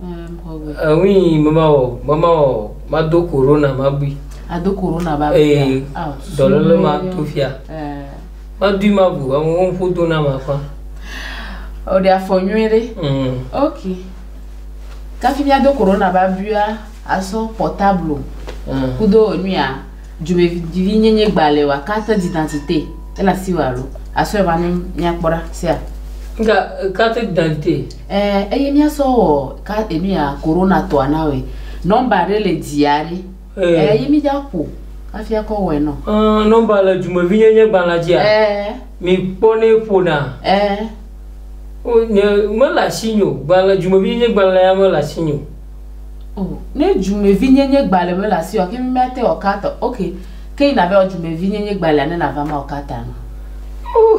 Eŋui mema wɔ, mema wɔ, mado korona mabui. Ado korona ba bui. Ee, dɔlele ma to fia. Madui mabu, amewo ƒo do na ma fa. O de afɔ nyuie ɖe. Mm. Ok. Kafi mia do korona ba buia, asɔ portable. Mm. Kudo enuia, dzomevi nyenye gbale wa kate didantite. Ela siwa lo. Asɔ eva ne mia kpɔra sia. Nga kate didantite. Ɛ, eye míasɔ wɔ ka enuya korona tɔa na woe. Nɔmba ɖe le dzia ɖe. Ɛ, Ɛ, eye mí dza ƒo hafi akɔ wɔe nɔ. Ɛ, nɔmba le dumevinyenyegbalẽa dzia? Ɛ, Mi kpɔ nɛ ƒona. Ɛ, O, nye, mele asinye o. Gbalẽ, dumevinyenyegbalẽa mele asinye o. O, ne dumevinyenyegbalẽ mele asiwòa, ke mí mía te wɔ ka tɔ. Ok, ke yi na va wɔ dumevinyenyegbalẽa ne na va ma wɔ ka ta nɔ. Ooh!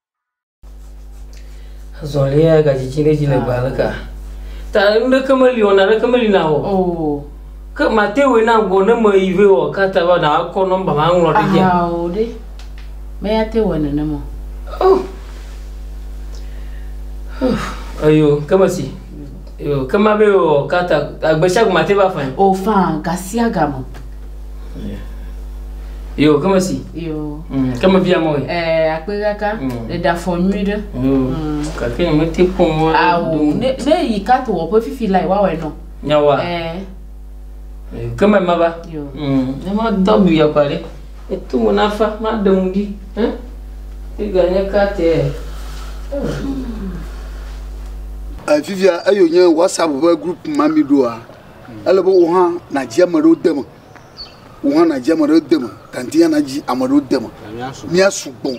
Azɔlia ya gadzidzi ɖe dzi le gbe aleka. Ta nuɖeke meli wɔna ɖeke meli na wɔ. Oh. Ke mate wòe na gbɔ ne me yi vɛ wɔ ka ta va na akɔ nɔmba ma ŋlɔ ɖe dzia. Aha o ɖe. Me ya te wɔ nenema. Oh. Ayo, ke mesi. Yo, ke ma be o ka ta agbe sia gbe mate va fãe. O faa gasiagame. Yo, ke me si. Yo. Mm, ke me via mɔe. Eh, akpe kaka. Mm. Ɖe da fɔ nyui ɖe. Yo. Mm. Kake ne mete kpɔ mɔ. Awo, ne ne yi ka to wɔƒe fifi la yi wa wɔ nɔ. Nyawa. Eh. Yo, ke me ma va. Yo. Mm, ne ma dɔ bu ya kwa ɖe. Meto mo na fa, maɖe ŋu ɖi. Ẽ? Figure nye kateɛ. Eh, fifia eyo nye WhatsApp ƒe group ma mi ɖoa, ele be wò hã nàdzi ame ɖewo de me. Wò hã nàdzi ame ɖewo de me. Tanti hã nadzi ame ɖewo de me. Míasugbɔ.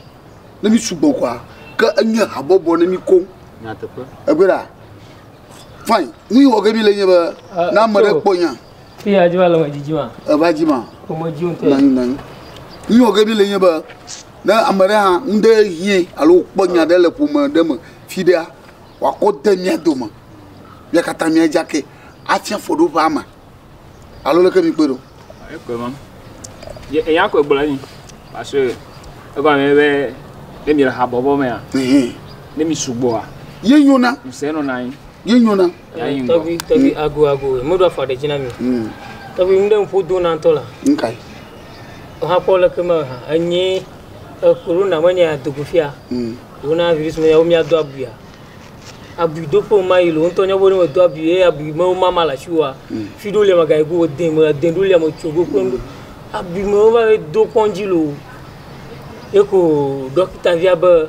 Ne mísugbɔ kɔa, ke enye habɔbɔ ne mí koŋ. Egbe ɖa. Fine. Nu yi wɔ ge mi le nye be, na ame ɖe kpɔ nya. Fi ya dzi ma le me dzi dzi ma. Eva dzi ma. Ko me dzi ŋutɔ. Nanyi nanyi. Yi o ke bi le nye be ne ame ɖe hã nu ɖe hie alo kpɔ nya ɖe le ƒome ɖe me fi ɖea wa ko de mia dome. Mia kata mia dza ke atsi afɔ ɖo ƒe ama. Alo le ke mi kpe ɖo. E kpe ma. Ye e ya ko gblɔ ni. Parce que e gba me be ne mi le ha bɔbɔ mea. Ne mi sugbɔa. Ye nyona. Ŋsɛ nɔ nanyi. Ye nyona. Tɔgbi, tɔgbi, mm. ago, ago, meɖo afɔ ɖe dzi na mi. Mm. Tɔgbi, nu ɖe ŋƒo do na ŋutɔ la. Nkae. Hakpɔ le ke me ha, enye corona me nya dogo fia. Mm. Wona virus me yawo miado abuya. Abui do ƒo ma yi lo ŋutɔ nya bo ne medo abui ye abui me wo mama la shiwa. Mm. Fi do le maga go de me de do le mo tsogo ko ndo. Abui me wo va do kɔnji lo. Eko dɔkita via be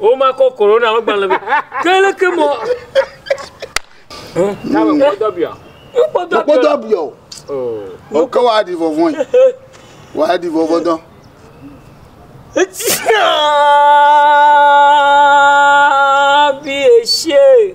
womakɔ korona ƒe gbalẽ be ke leke mɔ mekpɔdɔ bia mekpɔdɔ bia o oh. ke woaɖi vɔvɔe woaɖi vɔvɔ dɔ Tia bi esie.